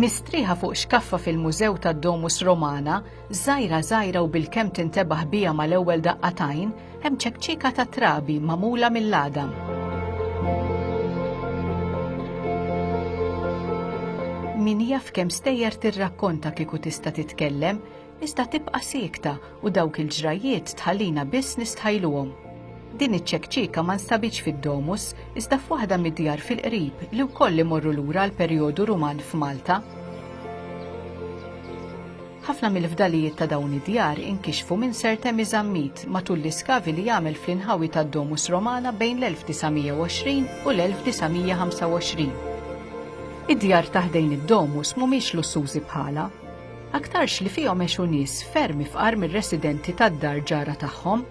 Mistrieħa fuq xkaffa fil-Mużew tad-Domus Romana, żgħira żgħira u bilkemm tintebaħ biha mal-ewwel daqqatajn, hemm ċekċika ta' trabi magħmula mill-għadam. Min jaf kemm stejjer tirrakkonta kieku tista' titkellem, iżda tibqa' siekta u dawk il-ġrajjiet tħallina biss nistħajluhom. Din iċ-ċekċieka ma nstabitx fid-Domus, iżda f'waħda mid-djar fil-qrib li wkoll imorru lura għall-perjodu Ruman f'Malta. Ħafna mill-fdalijiet ta' dawn id-djar inkixfu minn Sir Temi Zammit matul l-iskavi li għamel fl-inħawi tad-Domus Romana bejn l-1920 u l-1925. Id-djar ta' ħdejn id-Domus mhumiex lussużi bħalha, aktarx li fihom għexu nies ferm ifqar mir-residenti tad-dar ġara tagħhom.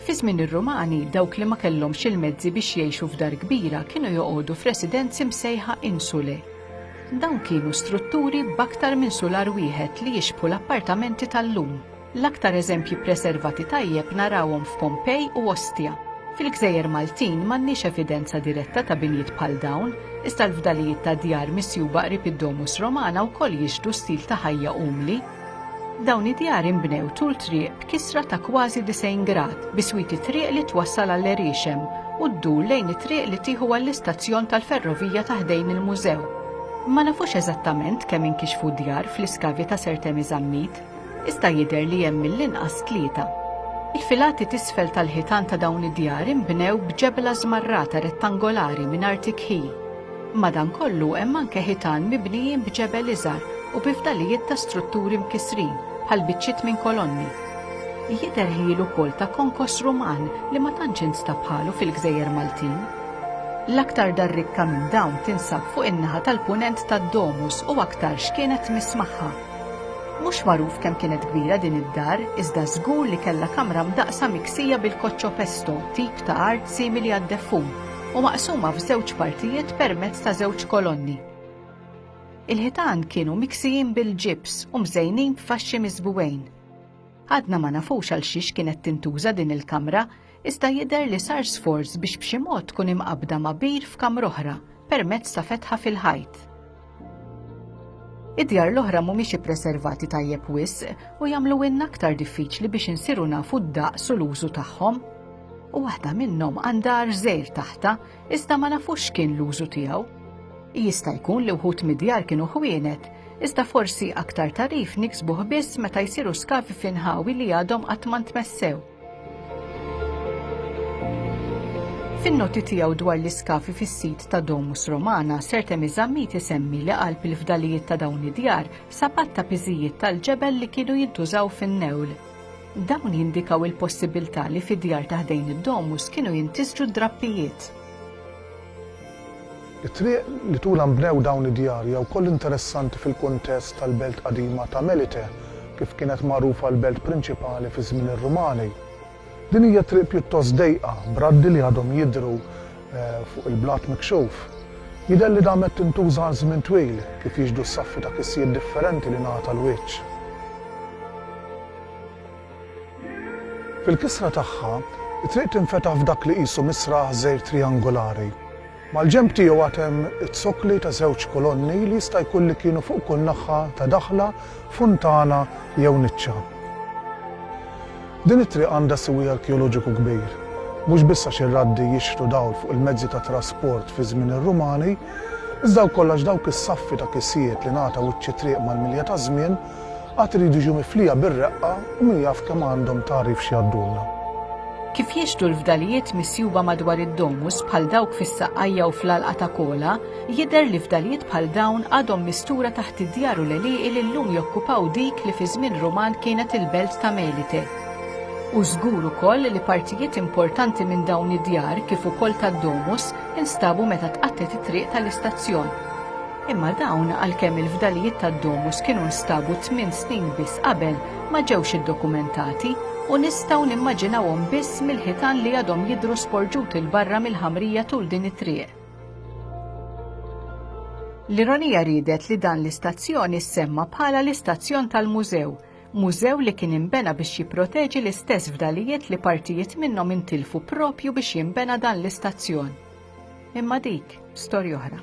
Fi żmien ir-Rumani, dawk li ma kellhomx il-mezzi biex jgħixu f'dar kbira kienu joqogħdu f'residenzi msejħa insulae. Dawn kienu strutturi b'aktar minn sular wieħed li jixbħu l-appartamenti tal-lum. L-aktar eżempji ppreservati tajjeb narawhom f'Pompei u Ostia. Fil-gżejjer Maltin m'għandniex evidenza diretta ta' binjiet bħal dawn, Iżda l-fdalijiet ta' djar misjuba qrib id-Domus Romana wkoll jixhdu stil ta' ħajja umli. Dawn id-djar inbnew tul triq b'kisra ta' kważi 90 grad, biswit it-triq li twassal għall-għerixem u ddur lejn it-triq li tieħu għall-istazzjon tal-ferrovija ta' ħdejn il-mużew. Ma nafux eżattament kemm inkixfu djar fl-iskavi ta' Sir Temi Zammit. Iżda jidher li hemm mill-inqas tlieta. Il-filati t'isfel tal-ħitan ta' dawn id-djar inbnew b'ġebla żmarrata rettangolari mingħajr tikhil. Madankollu hemm anke ħitan mibnijin b'ġebel iżgħar u bi fdalijiet ta' strutturi mkissrin, bħal biċċiet minn kolonni. Jidher ħjiel ukoll ta' konkos Ruman li ma tantx instab bħalu fil-gżejjer Maltin. L-aktar dar rikka minn dawn tinsab fuq in-naħa tal-Punent tad-domus u aktarx kienet tmiss magħha. Mhux magħruf kemm kienet kbira din id-dar, iżda żgur li kellha kamra mdaqqsa miksija bil-koccio pesto, tip ta' art simili għad-deffun, u maqsuma f'żewġ partijiet permezz ta' żewġ kolonni. Il-ħitan kienu miksijin bil-ġibs u mżejnin b'faxxi miżbugħin. Għadna ma nafux għalxiex kienet tintuża din il-kamra, Iżda jidher li sar sforz biex b'xi mod tkun imqabbda ma' bir f'kamra oħra permezz ta' fetħa fil-ħajt. Id-djar l-oħra mhumiex ippreservati tajjeb wisq u jagħmluwilna aktar diffiċli biex insiru nafu d-daqs u l-użu tagħhom. U waħda minnhom għandha arżejr taħtha iżda ma nafux x'kien l-użu tiegħu. Jista' jkun li wħud mid-djar kienu ħwienet, iżda forsi aktar tarif niksbuh biss meta jsiru skavi f'inħawi li għadhom qatt ma ntmessew. Fin-noti tiegħu dwar l-iskafi fis-sit ta' Domus Romana, Sir Temi Zammit isemmi li qalb il-fdalijiet ta' dawn id-djar sapat ta' piżijiet tal-ġebel li kienu jintużaw fin-newl. Dawn jindikaw il-possibilità li fid-djar ta' ħdejn id-domus kienu jintisġu d-drappijiet. It-triq li tulha nbnew dawn id-djar hija wkoll interessanti fil-kuntest tal-belt qadima ta' Melite, kif kienet magħrufa l-belt prinċipali fi żmien ir-Rumani. Din hija triq pjuttost dejqa, b'raddi li għadhom jidhru fuq il-blat mikxuf. Jidher li damet tintuża għal żmien twil, kif jixhdu s-saffi ta' kissijiet differenti li ngħata l-wiċċ. Fil-kisra tagħha, it-triq tinfetaħ f'dak li qisu misraħ żgħir trijangulari. Mal-ġenb tiegħu għad hemm iz-zokkli ta' żewġ kolonni li jista' jkun li kienu fuq kull naħħa ta' daħla, funtana jew niċċa. Din it-triq għandha siwi arkeoloġiku kbir, mhux biss għax ir-raddi jixħtu dawl fuq il-mezzi ta' trasport fi żmien ir-Rumani, iżda wkoll għax dawk is-saffi ta' kisjiet li ngħata wiċċ it-triq mal-milja taż-żmien, Għad iridu jiġu miflija bir-reqqa u min jaf kemm għandhom tagħrif x'jgħaddulna. Kif jixhdu l-fdalijiet misjuba madwar id-domus bħal dawk fis-Saqqajja u fl-Għalqa ta' Kola, jidher li fdalijiet bħal dawn għadhom mistura taħt id-djar u l-għelieqi li llum jokkupaw dik li fi żmien Ruman kienet il-belt ta' Melite. Hu żgur ukoll li partijiet importanti minn dawn id-djar kif ukoll tad-domus instabu meta tqatgħet it-triq tal-istazzjon. Imma dawn, għalkemm il-fdalijiet tad-domus kienu nstabu tmien snin biss qabel, ma ġewx iddokumentati, u nistgħu nimmaġinawhom biss mill-ħitan li għadhom jidhru sporġuti 'l barra mill-ħamrija tul din it-triq. L-ironija riedet li dan l-istazzjon issemma bħala l-istazzjon tal-mużew, mużew li kien inbena biex jipproteġi l-istess fdalijiet li partijiet minnhom intilfu propju biex jinbena dan l-istazzjon. Imma dik storja oħra.